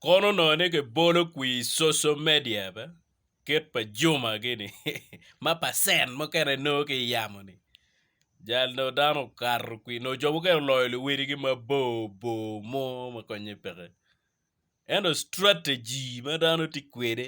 Kono onongo ni kibolo kwir i social media be kit pa Juma gini ma percent mukene nongo ki yamo ni jal nongo dano okato kwir nongo jo mukene oloyo luwedi gi mabor bor mo ma konye peke ento strategy ma dano tye kwede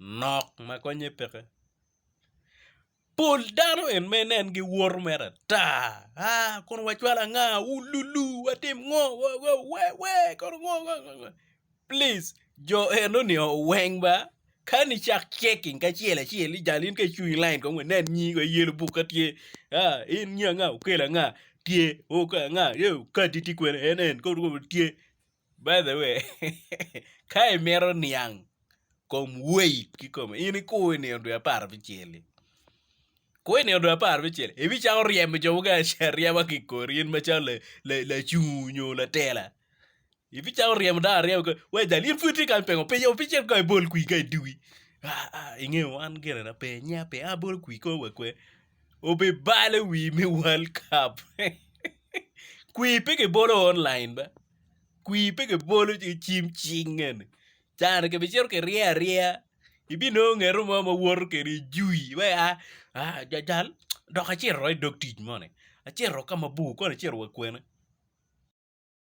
nok ma konye peke pol dano en ma inen gi woto mere ata aa kono wacwal anga wululu watim ngo wewe kono ngo ngo ngo plic jo eno ni oo weng ba ka ni cak ceking kacel acel ijal in ka icung i lain kong inen nyingi kong iyelo buk ka tye aa in nyi anga okelo anga tye oo kadi tye kwene en en kono tye By the way, ka imito niang kom weight kikome, in ikur inino dwe apar abicel-li. Kur inino dwe apar abicel, ibicako ryemo jo mukene acel aryema ki i kori, in macalo lacungu nyo latela. Ibicako ryemo dano aryema kikori, wee jal, in pud itye kany pingo pe opic cen kong ibol kwir ka i dugi. Ingeyo wan ginena pe, nya pe, a bolo kwir kong wakwe. obibale wi me world cup kwi pe kibolo online ba kwi pe kibolo ki cim cing eni can ni kibicito kirye aryeya ibinongo ngeto mo ma woto kede i jui ma ia jajal dok acito i dog tic moni acito ka mabor kong acito wa kwene.